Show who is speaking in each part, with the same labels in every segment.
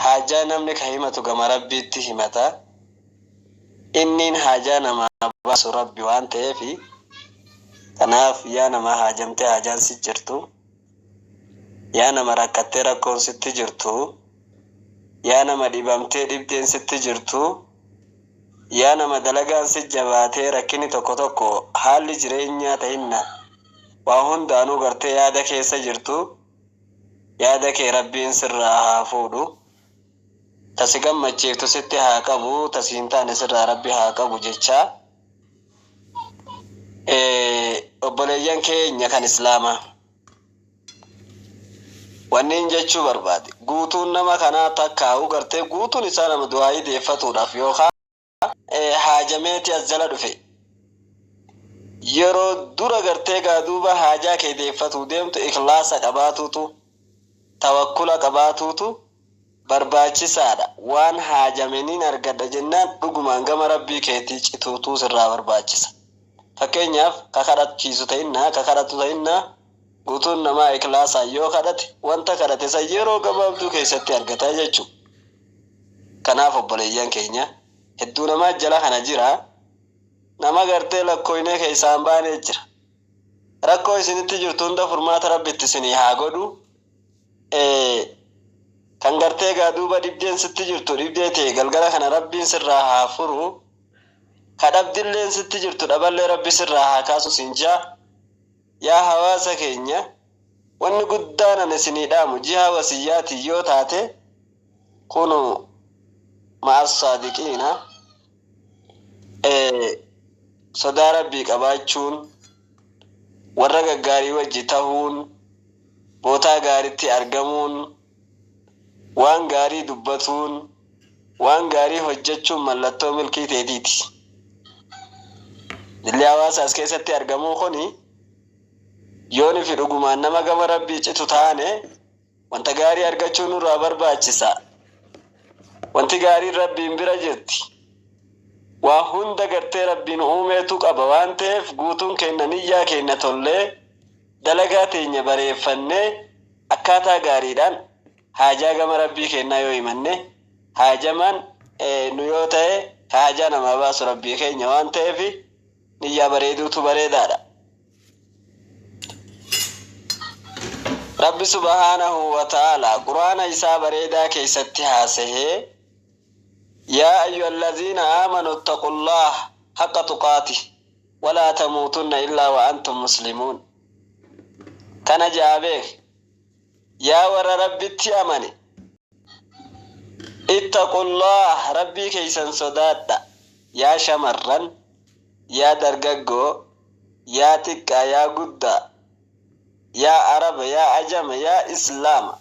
Speaker 1: Haajaa namni ka himatu gama Rabbiitti himata. Inniin haajaa namaa baasu Rabbi waan ta'eefi. Tanaaf yaa nama haajamtee haajaan si jirtu, yaa nama rakkattee rakkoon sitti jirtu, yaa nama dhibamtee dhibdeen sitti jirtu, yaa nama dalagaan si jabaatee rakkinni tokko tokko haalli jireenyaa tahinna waa hundaanuu gartee yaada keessa jirtu, Yaada kee Rabbiin sirraa haa fuudhu. Ta si gammachiiftu sitti haa qabu, ta si hin taane sirraa Rabbi haa qabu jechaa. Eh, obboleeyyan keenya kan Islaamaa. Wanniin jechuu barbaade, guutuun nama kanaa takkaa'uu gartee guutuun isaa nama du'aayii deeffatuudhaaf yookaa. haajameeti as jala dhufe. Yeroo dura gartee gaa duuba haajaa kee deeffatuu deemtu ikhlaasa qabaatuutu tawakkula qabaatuutu barbaachisaadha. Waan haajame nin argadha jennaan dhugumaan gama Rabbii keetii cituutu sirraa barbaachisa. Fakkeenyaaf ka kadhachiisu ta'innaa ka kadhatu ta'innaa guutuun namaa ikhlaasaan yoo kadhate wanta kadhate san yeroo gabaabduu keessatti argata jechuudha. Kanaaf obboleeyyan keenya hedduu namaa jala kana jira nama gartee lakkooynee keessaa hin baanee jira rakkoo isinitti jirtu hunda furmaata rabbi itti isinii haa godhu ee kan gartee gaa duuba dhibdeen sitti jirtu dhibdee tee galgala kana rabbiin sirraa haa furu ka dhabdilleen sitti jirtu dhaballee rabbi sirraa haa kaasu siin jaa Yaa hawaasa keenya wanni guddaan ani isinii dhaamu jihaa wasiyyaatiin yoo taate kunuu ma'assaadiqiina sodaa rabbii qabaachuun warra gaggaarii wajji tahuun bootaa gaaritti argamuun Waan gaarii dubbatuun, waan gaarii hojjechuun mallattoo milkii teetiiti. Jilli hawaasa as keessatti argamuu kuni yoo nufi dhugumaan nama gama Rabbii citu taane wanta gaarii argachuu nurraa barbaachisa. Wanti gaariin Rabbiin bira jirti. Waa hunda gartee Rabbiin uumeetu qaba waan ta'eef guutuun keenna niyyaa keenna tollee Dalagaa teenya bareeffannee akkaataa gaariidhaan haajaa gama Rabbii keennaa yoo himanne, haajamaan nu yoo tahe ka haajaa namaa baasu Rabbii keenya waan taheef niyyaa bareeduutu bareedaadha. Rabbi subhaanahu wa ta'aalaa Qur'aana isaa bareedaa keessatti haasayee, Yaa ayyuhallaziina aamanuu ittaqullaaha haqqa tuqaatih. Walaa tamuutunna illaa wa antum muslimuun Kana ja'a beekhi Yaa warra Rabbitti amane Ittaqullaah Rabbii keessan sodaadha Yaa shamarran Yaa dargaggoo Yaa xiqqaa Yaa guddaa Yaa araba Yaa ajama Yaa islaama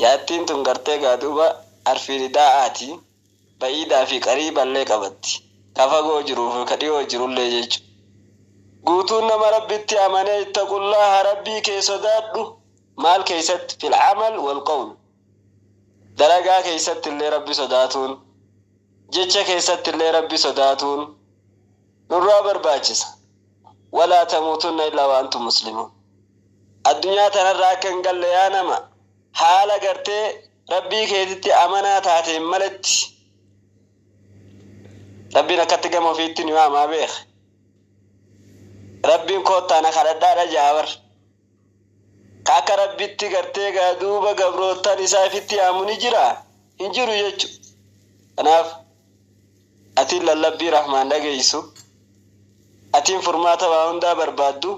Speaker 1: Yaattiin tun gartee gaa duuba arfii ridaa'aati. Ba'iidaa fi qariiballee qabatti. Ka fagoo jiruu fi ka dhiyoo jirullee jechu. Guutuun nama Rabbitti amanee ittaqullaaha Rabbii kee sodaadhu, maal keessatti? Fil amal wal qawl. Dalagaa keessattillee Rabbi sodaatuun, jecha keessattillee Rabbi sodaatuun nurraa barbaachisa. Walaa tamuutunna illaa wa antum muslimuun. Addunyaa tanarraa akka hin galle yaa nama haala gartee. Rabbii keetitti amanaa taateen maletti, Rabbiin akkatti gama ofiitti ni waamaa beeka. Rabbiin koottaa na kadhadhaadha ja'a bar. Ka akka Rabbitti gartee gaa duuba gabroottan isaa ifitti yaamu ni jira? Hin jiru jechu. Kanaaf, atiin lallabbii rahmaan dhageeysu, atiin furmaata waa hundaa barbaaddu,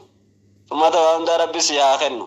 Speaker 1: furmaata waa hundaa Rabbi sii haa kennu.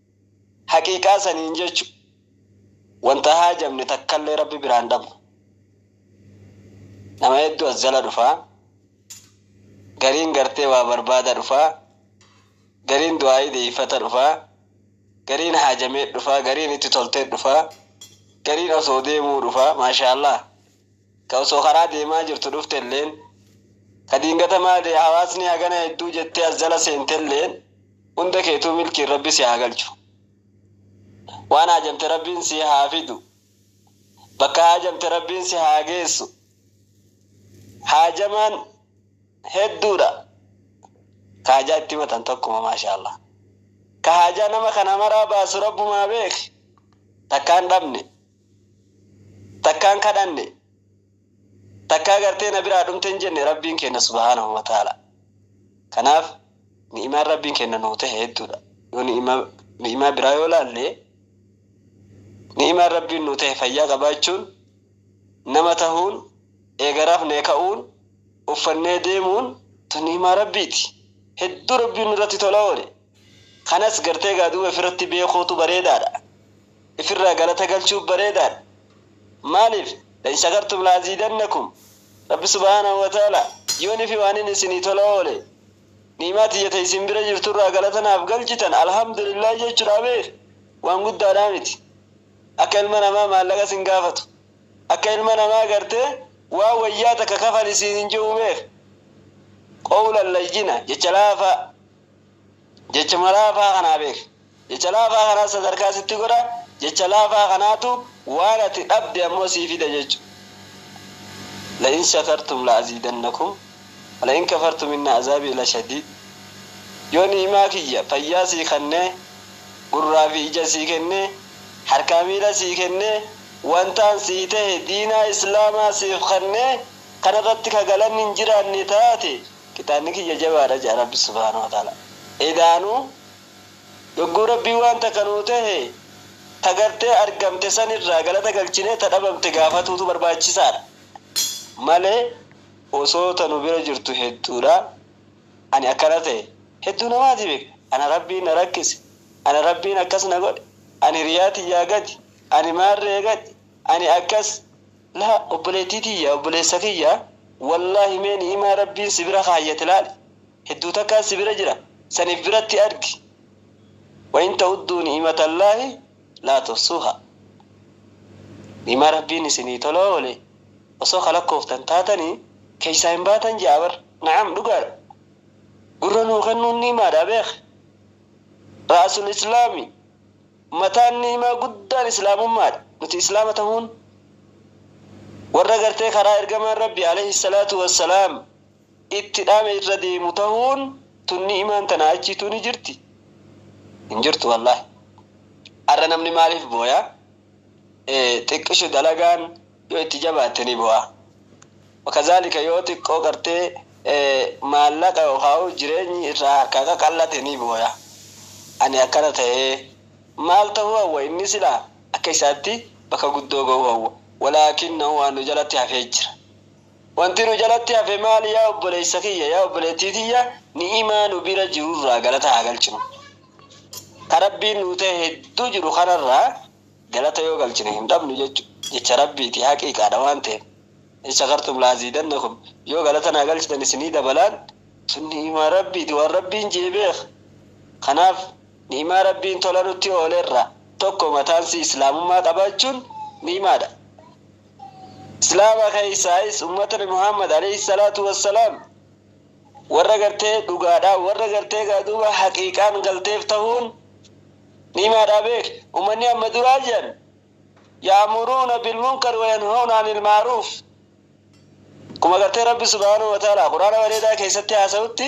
Speaker 1: Haqiiqaa saniin jechu wanta haajamne takkallee Rabbi biraa hin dhabnu. Nama hedduu as jala dhufa. Gariin gartee waa barbaada dhufa. Gariin du'aa'ii deeyfata dhufa. Gariin haajamee dhufa. Gariin itti toltee dhufa. Gariin osoo deemuu dhufa. Maashaallaah. ka osoo karaa deemaa jirtu dhuftelleen, ka diingata maale hawaasni hagana hedduu jettee as jala seentelleen hunda keetuu milkiin Rabbi si haa galchu. Waan haajamte Rabbiin sii haa fidu. Bakka haajamte Rabbiin si haa geessu. Haajamaan hedduudha. Ka haajaa itti himatan tokkuma maashaallah. Ka haajaa nama kana maraa baasu Rabbumaa beeke. Takkaa hin dhabne. takkaan kadhanne takkaa gartee na biraa dhumte hin jenne rabbiin keenna subhaanahu wa ta'ala kanaaf ni'imaan rabbiin keenna nuu ta'e hedduudha yoo ni'imaa biraa yoo laalle ni'imaan rabbiin nuu ta'e fayyaa qabaachuun nama tahuun eega rafnee ka'uun uffannee deemuun tun ni'imaa rabbiiti hedduu rabbiin nurratti tola oole Kanas gartee egaa duuba ifirratti beekuutu bareedaadha. Ifirraa galata galchuun bareedaadha. Maaliif? La'in shakartum la'aziidannakum. Rabbi subhaanahu wa ta'aalaa, Yoonii fi waanin isinii tola oole, ni'imaa tiyya ta isin bira jirturraa galata naaf galchitan alhamdulillaah jechuudha beekh, waan guddaadhaa miti. Akka ilma namaa maallaqa isin gaafatu, akka ilma namaa gartee waan wayyaa takka kafali siin hin je'u beekh. Qowlan layyina, jecha laafaa. Jechuma laafaa kanaa beeki. Jecha laafaa kanaas sadarkaa sitti godha, jecha laafaa kanaatu waan ati dhabde ammoo sii fida jechu. La'in shakartum la'aziidannakum wala'in kafartum inna azaabii lashadiid Yoo ni'imaa kiyya, fayyaa sii kannee, gurraa fi ija sii kennee, harkaa miila sii kennee, wantaan sii tahe diinaa islaamaa siif kannee, kanarratti ka galanni hin jiraanne taate, Qixaanni kiyya jabaadha jedha Rabbi subhaanahu wa ta'aala. Edaanuu yogguu Rabbiin waan takka nuu tahe ta gartee argamte san irraa galata galchinee ta dhabamte gaafatuutu barbaachisaadha malee osoo ta nu bira jirtu hedduudha ani akkana tahe hedduu namaatii beeka ana Rabbiin na rakkise ana Rabbiin akkas na godhe ani hiriyaa tiyyaa gadi ani maarree gadi ani akkas Laa obboleettii tiyya obboleessa kiyya wallaahi mee ni'imaa rabbiin si bira kaayyate laali hedduu takkaan si bira jira san if biratti argi wain ta'udduu ni'imatallaahi laa tuhsuuhaa ni'imaa rabbiin isinii tola oole osoo ka lakkooftan taatanii keeysaa hin baatan je'a bar na'am dhugaadha gurra nuu kennuun ni'imaadha beekhi ra'asul islaami Mataan ni'imaa guddaan Islaamummaadha. Nuti Islaama tahuun warra gartee karaa Ergamaan Rabbii, aleyhi salaatu wa salaam, itti dhaame irra deemu tahuun tun ni'imaan tanaa achiituu ni jirti? Hin jirtu wallaahi. Ar'a namni maaliif booya? Ee, xiqqishu dalagaan. Yoo itti jabaatte ni bu'a. Wakazaalika yoo xiqqoo gartee maallaqa yookaa'uu jireenyi irraa harkaa qaqallate ni booya. Ani akkana ta'ee maal ta'uu hawwa inni silaa akka isaatti bakka guddoo ga'uu hawwa. Walaakinnahu waan nu jalatti hafee jira. Wanti nu jalatti hafe maali yaa obboleessa kiyya yaa obboleettii tiyya ni'imaa nu bira jirurraa galata haa galchinu. Ka Rabbiin nuu ta'e hedduu jiru kanarraa Galata yoo galchine hin dhabnu jechu jecha Rabbiiti, haqiiqaadha waan ta'eef. In shakartum la'aziidannakum, yoo galata naa galchitan isinii dabalaan, sun ni'imaa Rabbiiti, waan Rabbiin je'e beekha. Kanaaf ni'imaa Rabbiin tola nutti oole irraa tokko mataansii Islaamummaa qabaachuun ni'imaadha. Islaama keessaayis ummatni Muhammad, aleyhi salaatu wassalaam, Warra gartee dhugaadhaa warra gartee gaa duuba haqiiqaan galteef tahuun ni himaadhaa beeki. Ummanni amma duraa jiran ya'muruuna bilmunkari wayanhawna anil ma'ruuf akkuma gartee Rabbi subhaanahu wa ta'aalaa Qur'aana bareedaa keessatti haasawutti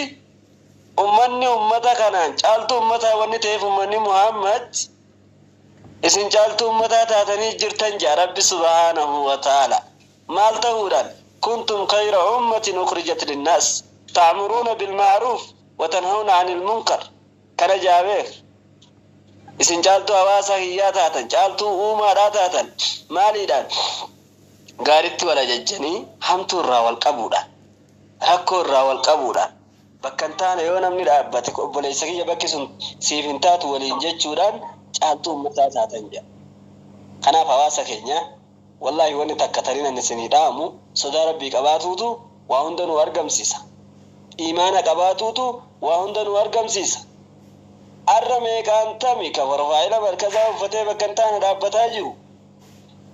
Speaker 1: ummanni ummata kanaan caaltuu ummataa wanni ta'eef ummanni Muhammad isin caaltuu ummataa taatanii jirtan ja'a Rabbi subhaanahu wa ta'aalaa. Maal ta'uudhaan? Kuntum khayra ummatin ukhrijat linnaas ta'muruuna bilma'ruuf wa tanhawna 'anil munkar Kana jaabeef Isin caaltuu hawaasaa kiyyaa taatan, caaltuu uumaadhaa taatan. Maaliidhaan? Gaaritti wal ajajjanii hamtuu irraa wal qabuudhaan, rakkoo irraa wal qabuudhaan, bakka hin taane yoo namni dhaabbate obboleessa kiyya bakki sun siif hin taatu waliin jechuudhaan caaltuu ummataa taatan jedha. Kanaaf hawaasa keenya. Wallaahi wanni takka tanin ani isinii dhaamu sodaa Rabbii qabaatuutu waa hunda nuu argamsiisa. Iimaana qabaatuutu waa hunda nuu argamsiisa. Arra meeqaan tami ka profaayila markazaa uffatee bakka hin taane dhaabbataa jiru?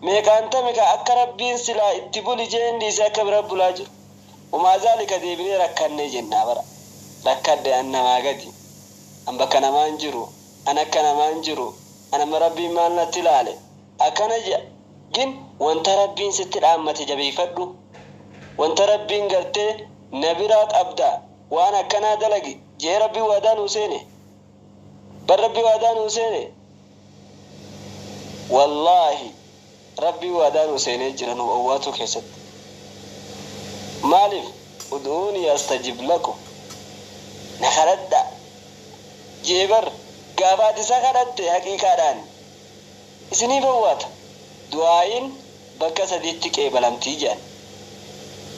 Speaker 1: Meeqaan tami ka akka Rabbiin silaa itti buli je'een dhiisee akka bira bulaa jiru? Humaa zaalika deebinee rakkanne jenna bara. Rakkadhe an namaa gadi. An bakka namaa hin jiru. An akka namaa hin jiru. An amma Rabbiin maal natti laale? Akkana ja, in, Wanta Rabbiin sitti dhaammate jabeeyfadhu. Wanta Rabbiin gartee na biraa qabdaa waan akkanaa dalagi je'ee Rabbiin waadaa nuu seene? Bar Rabbiin waadaa nuu seene? Wallaahi, Rabbiin waadaa nuu seenee jira nu owwaatuu keessatti. Maaliif? Ud'uunii astajib lakum, Na kadhadhaa. je'e bar. Gaafa ati Isa kadhatte haqiiqaadhaan. isiniif owwaata. Du'aa'iin bakka sadiitti qeebalamti jedhan.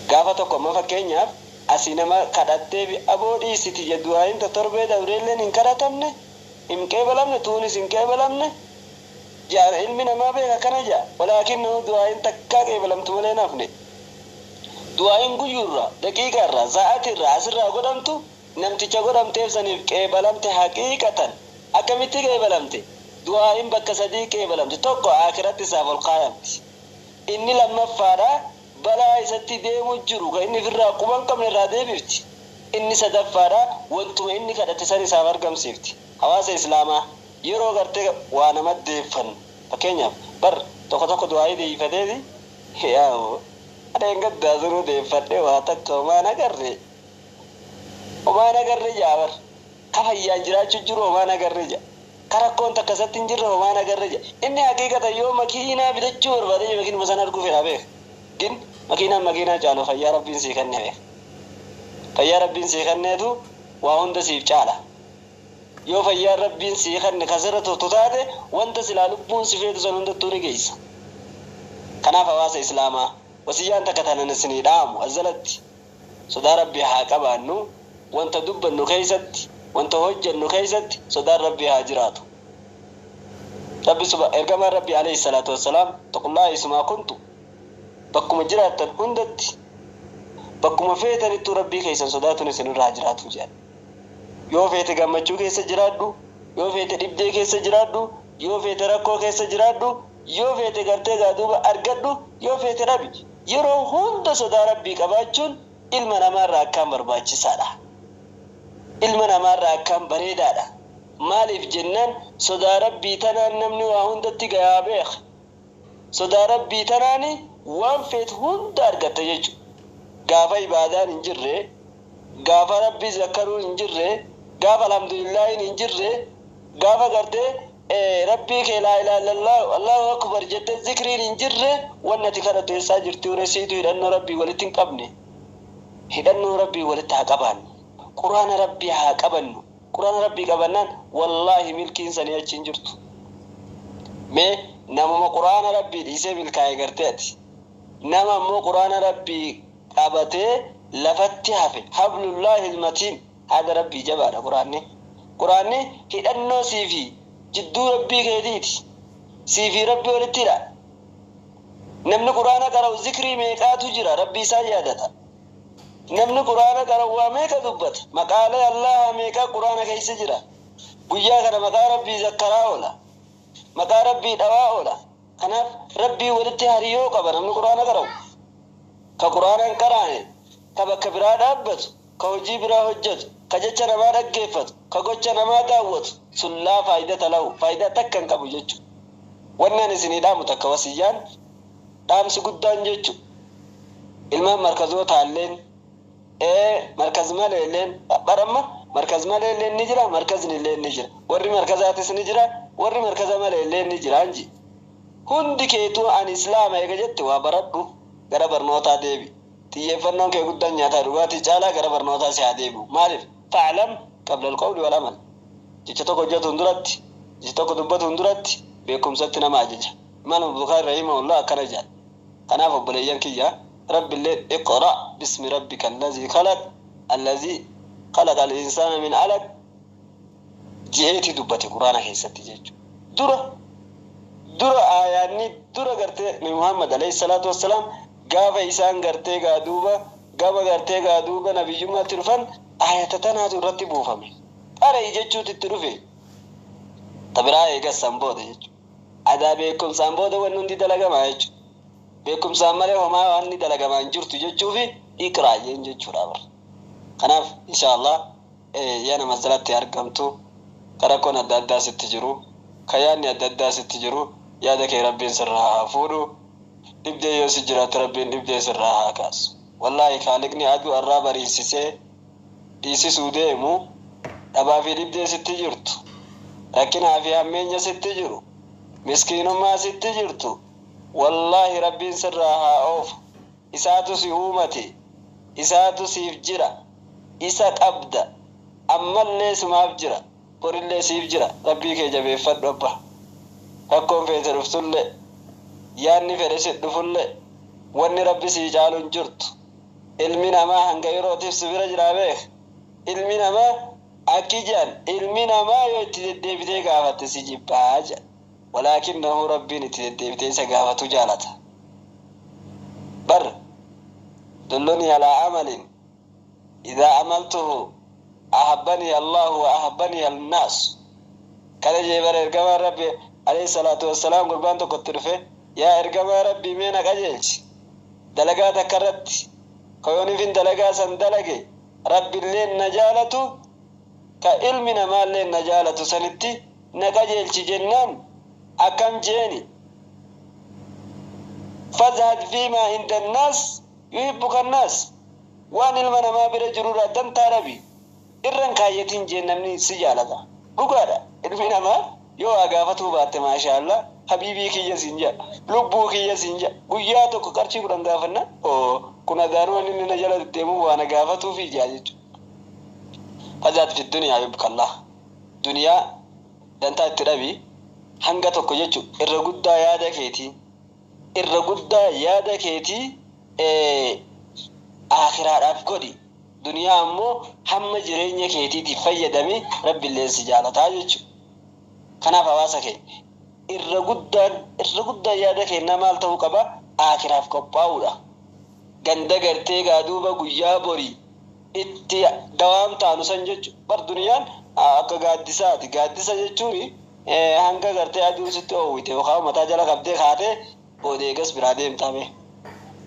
Speaker 1: Gaafa tokko amma fakkeenyaaf asii nama kadhatteefi aboo dhiisi tiyya du'aa'iin ta torbee dabreelleen hin kadhatamne, hin qeebalamne, tuunis hin qeebalamne jedhan ilmi namaa beeka akkana jedha. Walaakinnahu du'aa'iin takkaa qeebalamtu malee hin hafne. Du'aa'iin guyyuurraa, daqiiqaarraa, saa'atiirraa asirraa godhamtu Namticha godhamteef saniif qeebalamte haqiiqatan. Akkamitti qeebalamte? Du'aa'iin bakka sadii qeebalamti. Tokko Aakhiratti isaaf ol kaayamti. Inni lammaffaadha, balaa isatti deemu jiru ka inni ifirraa quba hin qabne irraa deebifti. Inni sadaffaadha, wantuma inni kadhate san isaaf argamsiifti. Hawaasa Islaamaa, yeroo gartee waa nama deeffannu, fakkeenyaaf, bar tokko tokko du'aa'ii deebifateeti, Yaa Rabbi! Dheengaddaa sunuu deeffadhee waa takka homaa hin agarre. Homaa hin agarre ja'a bar. Ka fayyaan jiraachu jiru homaa hin agarre ja'a. Ka rakkoon takka isatti hin jirre homaa hin agarre ja'a. Inni haqiiqatan yoo makiinaa bitachuu barbaade iyyuu makiinuma san arguu fedha beekh. Gin makiinaan makiinaa caalu fayyaa Rabbiin sii kenne beekh. Fayyaa Rabbiin sii kenneetu waa hunda siif caala. Yoo fayyaan Rabbiin sii kenne ka sirra turtu taate wanta silaa lubbuun si feetu san hundattuu ni geeysa. Kanaaf hawaasa Islaamaa, wasiyyaan takka tanan isinii dhaamu as jalatti. Sodaa Rabbii haa qabaannu, wanta dubbannu keessatti, wanta hojjannu keessatti sodaan Rabbii haa jiraatu. Rabbi subha Ergamaan Rabbii aleyhi salaatu wassalaam Ittaqullaaha haysumaa kuntu Bakkuma jiraattan hundatti, bakkuma feetanittuu Rabbii keessan sodaatuun isinirra haa jiraatu jedhan. Yoo feete gammachuu keessa jiraadhu, yoo feete dhibdee keessa jiraadhu, yoo feete rakkoo keessa jiraadhu, yoo feete gartee egaa duuba argadhu, yoo feete dhabi. yeroo hunda sodaa Rabbii qabaachuun ilma namaa irraa akkaan barbaachisaa dha. Ilma namaa irraa akkaan bareedaa dha. Maaliif jennaan sodaa Rabbii tanaan namni waa hundatti gayaa beekha. Sodaa Rabbii tanaan waan feetu hunda argatta jechuudha. Gaafa ibaadaan hin jirre Gaafa Rabbi zakkaruun hin jirre, gaafa Alhamdulillaahiin hin jirre, gaafa gartee Rabbii kee Laa ilaaha illallaahu, Allaahu Akbar jettee zikriin hin jirre wanni ati kadhattu eessaa jirtiure? Siitu hidhannoo Rabbiin walitti hin qabne. Hidhannoo Rabbiin walitti haa qabaannu. Qur'aana Rabbii haa qabannu. Qur'aana Rabbii qabannaan wallaahi milkiin sanii achi hin jirtu. Mee namuma Qur'aana Rabbii dhiisee milkaaye gartee ati. Nama ammoo Qur'aana Rabbii qabatee lafatti hafe hablullaahil matiin haada rabbii jabaadha quraanni quraanni hidhannoo siifi jidduu rabbii keetiiti siifi rabbi walitti hidha namni quraana qara'u zikrii meeqaatu jira rabbii isaa yaadata namni quraana qara'u waa meeqa dubbata maqaalee allaahaa meeqaa quraana keessa jira guyyaa kana maqaa rabbii zakkaraa oola maqaa rabbii dhawaa oola Kanaaf Rabbii walitti hariyoo qaba namni Qur'aana qara'u. Ka Qur'aana hin qaraane, ka bakka biraa dhaabbatu, ka hojii biraa hojjatu, ka jecha namaa dhaggeeffatu, ka gocha namaa daawwatu sun laa faayidata lahu, faaydaa takka hin qabu jechu. Wanni ani isinii dhaamu takka wasiyyaan, dhaamsi guddaan jechu. Ilmaan markazoo taalleen. Ee, markaz maleelleen, bar amma, markaz maleelleen ni jira, markaznilleen ni jira. Warri markazaatis ni jira, warri markaza maleelleen ni jiraan ji. Hundi keetuu ani Islaama eega jette waa baradhu, gara barnootaa deebi. Xiyyeeffannoon kee guddan nyaataa dhugaatii caalaa gara barnootaa si haa deebi'u. Maaliif? Fa'lam qabla al-qawli wal-amal. Jecha tokko hojjatuun duratti, jecha tokko dubbatuun duratti beekumsatti nama ajaja. Imaam Al-Bukhaari rahimahullah akkana jedha. Kanaaf obboleeyyan kiyya Rabbilleen iqra bismi rabbika allazii khalaq allazii khalaqa al-insaana min alaq je'eeti dubbate qur'aana keessatti jechu dura dura aayaanni dura gartee nabi muhammad aleyh salaatu wassalaam gaafa isaan gartee gaa duuba gama gartee gaa duuba nabiyyummaatti dhufan aayata tanaatu irratti buufame qara'i jechuutu itti dhufe ta biraa eegas san booda jechu Adaa beekkumsaan booda wanni hundi dalagamaa jechu. Beekkumsaan malee homaa wanni dalagamaa hin jirtu jechuufi iqraa jeen jechuudha bar. Kanaaf inshaa Allah yaa nama as jalatti argamtu ka rakkoon adda addaa sitti jiru, ka yaadni adda addaa sitti jiru yaada kee Rabbiin sirraa haa fuudhu. Dhibdee yoo si jiraatte Rabbiin dhibdee sirraa haa kaasu. Wallaahi Khaaliqni aduu arraa bariisisee dhiisisuu deemu, dhabaa fi dhibdee sitti jirtu, rakkinaa fi hammeenya sitti jiru, miskiinummaa sitti jirtu wallahi Rabbiin sirraa haa oofu isaatu si uumate, isaatu siif jira, isa qabda, ammallee sumaaf jira, borillee siif jira Rabbii kee jabeeffadhu abba. Rakkoon feete dhuftullee, yaanni fedhe si dhufullee wanni Rabbi sii caalu hin jirtu. Ilmi namaa hanga yerootiif si bira jiraa beekh. Ilmi namaa akki je'an, ilmi namaa yoo itti deddeebitee gaafatte si jibba je'an. Walaakinnahu Rabbiin itti deddeebitee isa gaafatu jaalata. Bar, Dullunii alaa amalin idhaa amaltuhu. Ahabbanii Allaahu wa ahabbanii al-naas. Kana jedhe bar Ergamaan Rabbi, aleyh salaatu wa salaam, gurbaan tokko itti dhufee, Yaa Ergamaa Rabbii mee na qajeelchi dalagaa takka irratti, ka yoonifin dalagaa san dalage Rabbilleen na jaalatu, ka ilmi namaalleen na jaalatu sanitti na qajeelchi jennaan akkam jeeni? Fazhad fiimaa inda annaas yuhibbuka annaas. Waan ilma namaa bira jirurraa dantaa Rabi irra hin kaayyatiin jeen namni si jaalata dhugaadha ilmi namaa yoo waa gaafatuu baatte maashaallah habiibii kiyya siin ja'a lubbuu kiyya siin ja'a guyyaa tokko qarshii kudhan gaafannaan oo kun adaanuu wanni inni na jala deddeemuuf waa na gaafatuufii ja'a jechuudha fazaat fi duniyaa yubkallaah duniyaa dantaa itti dhabi hanga tokko jechu irra guddaa yaada keetii irra guddaa yaada keetii Aakhiraadhaaf godhi, duniyaa ammoo hamma jireenya keetiitiif fayyadami, Rabbilleen si jaalataa jechu. Kanaaf hawaasa keenya! Irra guddaan, irra guddaan yaada keennaa maal ta'uu qaba? Aakhiraaf qophaa'uudha. Ganda gartee gaa duuba guyyaa borii itti dawaan taanu san jechu. Bar duniyaan akka gaaddisaati. Gaaddisa jechuun Hanga gartee aduun sitti oowwite yookaa mataa jala qabdee kaatee booda eegas biraa deemtaa bee.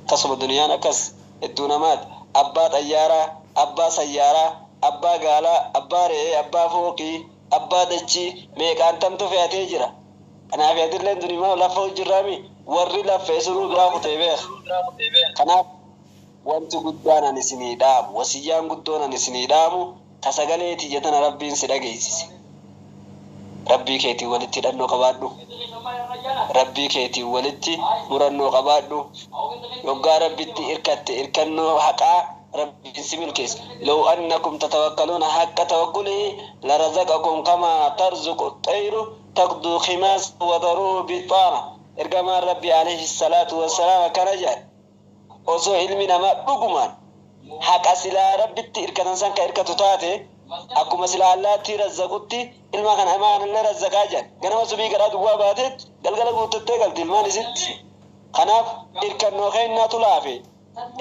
Speaker 1: Tasuma duniyaan akkas hedduu namaat abbaa xayyaaraa, abbaa sayyaaraa, abbaa gaalaa, abbaa re'ee, abbaa fooqii, abbaa dachii meeqaan tamtu fe'atee jira. Anaafi atilleen dunimaa laffa'u jirraa mii? Warri laffa'e sunuu biraa kutee beeka. Kanaaf wanti guddaan ani isinii dhaamu, wasiyyaan guddoon ani isinii dhaamu, Ta sagalee tiyya tana Rabbiin si dhageessise. Rabbii keetiin walitti hidhannoo qabaadhu. Rabbii keetiin walitti murannoo qabaadhu. Yoggaa Rabbitti irkatte irkannoo haqaa Rabbiin si milkeessa. Low annakum tatawakkaluuna haqqa tawakkulihi larazaqakum kamaa tarzuqu xxayru tagduu khimaasan wataruuhu bixxaana. Ergamaan Rabbii aleyhi salaatu wassalaam akkana jedhan. Osoo ilmi namaa dhugumaan haqa silaa Rabbitti irkatan san ka irkatu taate, akkuma silaa allaattii razzaqutti ilma kana ilma kanallee razzaqaa jedhan. Ganama subii garaa duwwaa baateet galgala guuttattee galti ilmaan isitti. Kanaaf irkannoo keennaatu laafe,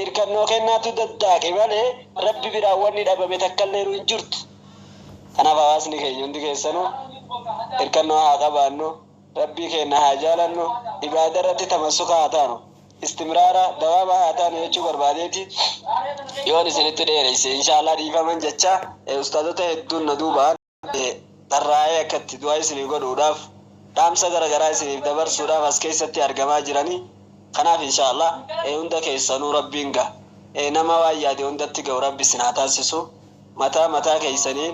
Speaker 1: irkannoo keennaatu daddaaqe malee Rabbi biraa wanni dhabame takkalleenu hin jirtu. Kanaaf hawaasni keenya hundi keessanuu irkannoo haa qabaannu. Rabbii keenna haa jaalannu, ibaadarratti tamassuka haa taanu, istimraara, dawaama, haa taanu jechuu barbaadeeti yoon isinitti dheereyse inshaallah dhiifaman jecha ustaazota hedduun na duubaan tarraa'ee akka itti du'aa isinii godhuudhaaf dhaamsa gara garaa isiniif dabarsuudhaaf as keessatti argamaa jiranii kanaaf inshaallah hunda keessanuu rabbiin ga nama waan yaade hundatti ga'u rabbi isin haa taasisu mataa mataa keessaniin